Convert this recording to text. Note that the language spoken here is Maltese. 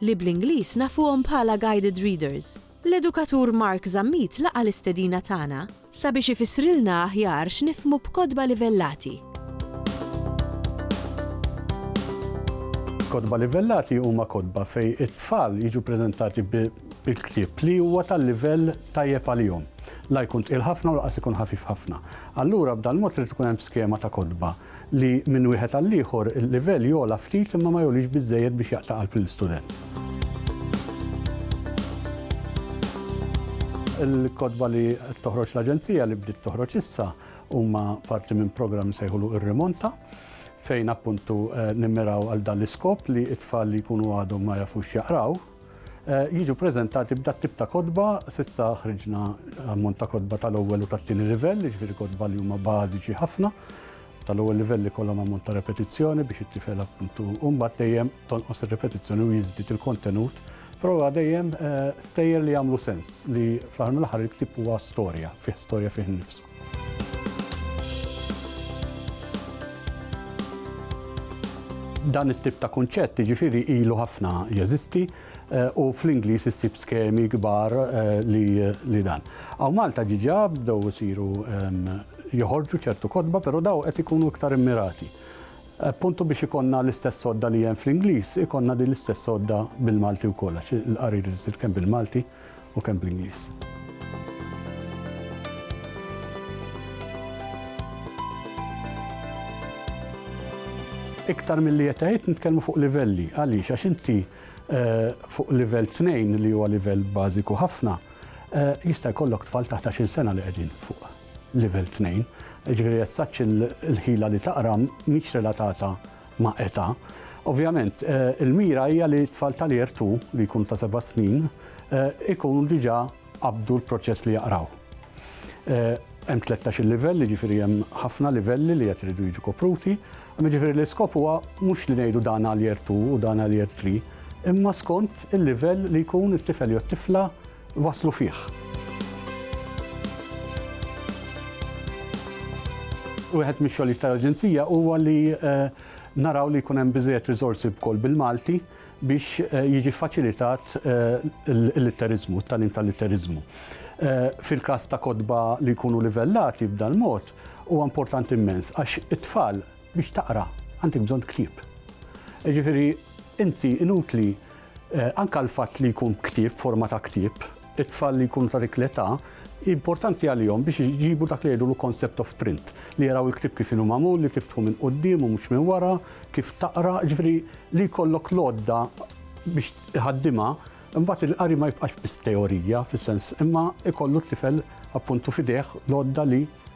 li bl-Ingliż nafuhom bħala guided readers. L-edukatur Mark Zammit laqa' l-istedina tagħna sabiex ifissrilna aħjar x'nifhmu b'kotba livellati. Kotba livellati huma kotba fejn it-tfal jiġu ppreżentati bi ktieb li huwa tal-livell tajjeb għalihom. La jkun tqil ħafna u lanqas ikun ħafif ħafna. Allura b'dal-mod irid ikun hemm skema ta' kotba. li minn wieħed għall-ieħor il-livell jogħla ftit imma ma jgħolix biżżejjed biex jaqta' qalb lill-istudent. Il-kotba li qed toħroġ l-Aġenzija li bdiet toħroġ issa huma parti minn programm nsejħulu Ir-Rimonta fejn appuntu nimmiraw għal dan l-iskop li t-tfal li jkunu għadhom ma jafux jaqraw, jiġu preżentati b'dat tip ta' kotba, s'issa ħriġna ammont ta' kotba tal-ewwel u tat-tieni livell, jiġifieri kotba li huma bażiċi ħafna, tal-ewwel livell ikollhom ammont ta' repetizzjoni biex it-tifel appuntu u mbagħad dejjem tonqos ir-repetizzjoni u jiżdied il-kontenut, però huwa dejjem stejjer li jagħmlu sens li fl-aħħar mill-aħħar il-ktieb huwa storja, fih storja fih innifsu. Dan it-tip ta' kunċett jiġifieri ilu ħafna jeżisti u fl-Ingliż issib skemi kbar li dan. Aw Malta ġiġa bdew isiru joħorġu ċertu kotba, però daw qed ikunu iktar immirati. Puntu biex ikonna l-istess sodda li hemm fl-Ingliż, ikonna din l-istess sodda bil-Malti wkoll, għax il-qarir isir kemm bil-Malti. u kemm bl-Ingliż. iktar mill-li jetgħid nitkellmu fuq livelli. Għaliex, għax inti eh, fuq livell 2 li huwa livell bażiku ħafna, eh, jista' jkollok tfal taħt 10 sena li qegħdin fuq livell 2. Ġifieri jessaċ il-ħila li taqra mhix relatata ma' età. Ovvjament, eh, il-mira hija li tfal tal-Year 2 li jkun ta' seba' snin eh, ikun diġà qabdu l-proċess li jaqraw. Eh, hemm 13 il-livell, jiġifieri hemm ħafna livelli li qed iridu jiġu kopruti, jiġifieri l-iskop huwa mhux li ngħidu dan għal Year 2 u dan għal Year 3, imma skont il-livell li jkun it-tifel jew tifla waslu fih. Wieħed mix-xogħlijiet tal-Aġenzija huwa li naraw li jkun hemm biżejjed riżorsi wkoll bil-Malti biex jiġi faċilitat l-litteriżmu, t-tagħlim tal-litteriżmu. Fil-każ ta' kotba li jkunu livellati b'dan mod, huwa importanti immens għax it-tfal biex taqra għandek bżonn ktieb. Jiġifieri inti inutli Anke l-fatt li jkun ktieb f'forma ta' ktieb, it-tfal li jkunu ta' dik l-età importanti għalihom biex iġibu dak li jgħidulu concept of print, li jaraw il-ktieb kif inhu magħmul, li tiftħu minn quddiem u mhux minn wara, kif taqra, jiġifieri li jkollok l-għodda biex iħaddimha, imbagħad il-qari ma jibqax biss teorija fis-sens imma jkollu t-tifel appuntu f'idejh l-għodda li